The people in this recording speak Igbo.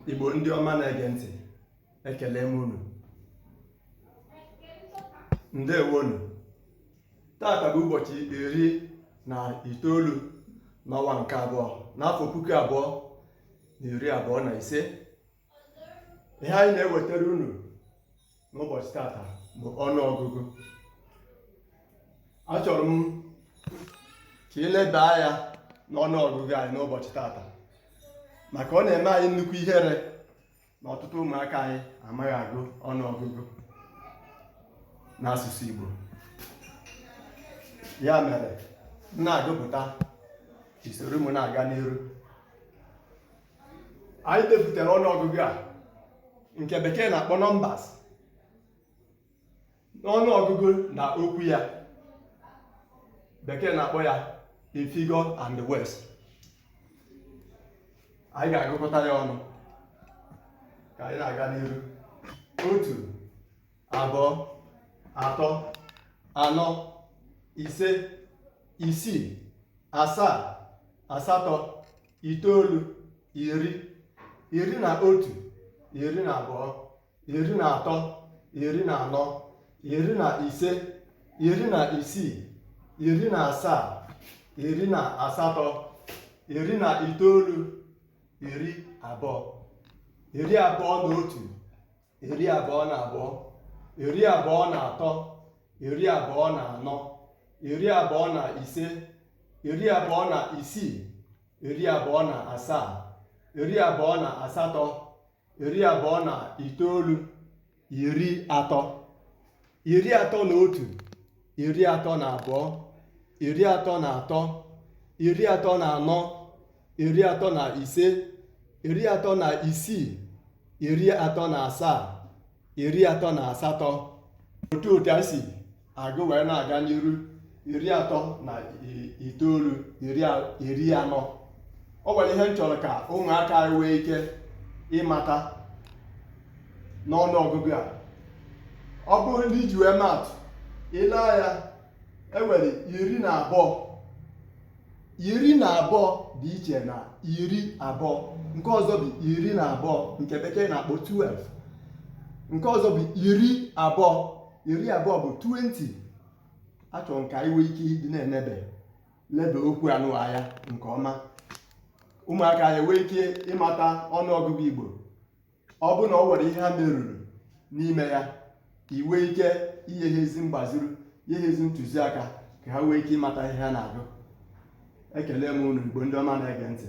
Igbo ndị ọma na-ege ntị ekele m unu ndewonu tata bụ ụbọchị iri na itoolu n'ọnwa nke abụọ n'afọ puku abụọ na iri abụọ na ise ihe anyị na-ewetara unu n'ụbọchị tata bụ ọnụ ọgụgụ achọrọ m ka anyị leba anya n'ọnụ ọgụgụ anyị n'ụbọchị tata maka ọ na-eme anyị nnukwu ihere na ọtụtụ ụmụaka anyị amaghị agụ ọnụ ọgụgụ n'asụsụ Igbo ya mere m na-agụpụta ka i soro m na-aga n'iru anyị depụtara ọnụọgụgụ a nke bekee na-akpọ numbers ọnụọgụgụ na okwu ya bekee na-akpọ ya the figure and the words anyị ga-agụkọta ya ọnụ ka anyị na-aga n'iru otu abụọ atọ anọ ise isii asaa asatọ itoolu iri iri na otu iri na abụọ iri na atọ iri na anọ iri na ise iri na isii iri na asaa iri na asatọ iri na itoolu iri abụọ iri abụọ na otu iri abụọ na abụọ iri abụọ na atọ iri abụọ na anọ iri abụọ na ise iri abụọ na isii iri abụọ na asaa iri abụọ na asatọ iri abụọ na itoolu iri atọ iri atọ na otu iri atọ na abụọ iri atọ na atọ iri atọ na anọ iri atọ na ise iri atọ na isii iri atọ na asaa iri atọ na asatọ otu otu e si agụ wee na-aga n'iru iri atọ na itoolu iri anọ o nwere ihe m chọrọ ka ụmụaka anyị nwee ike ịmata n'ọnụ ọgụgụ a ọ bụrụ ndị ji wee maatụ ile anya e nwere iri na abụọ iri na abụọ dị iche na iri abụọ nke ọzọ bụ iri na abụọ nke bekee na-akpọ 12 nke ọzọ bụ iri abụọ iri abụọ bụ 20 achọrọ m ka anyị nwee ike ịdị na-enebe lebe okwu anụwa anya nke ọma ụmụaka anyị nwee ike ịmata ọnụ ọgụgụ igbo ọ bụ na o nwere ihe ha merụrụ n'ime ya anyị nwee ike inye ha ezi mgbaziri nye ha ezi ntụziaka ka ha nwee ike ịmata ihe ha na-agụ ekele m unu igbo ndị ọma na-ege ntị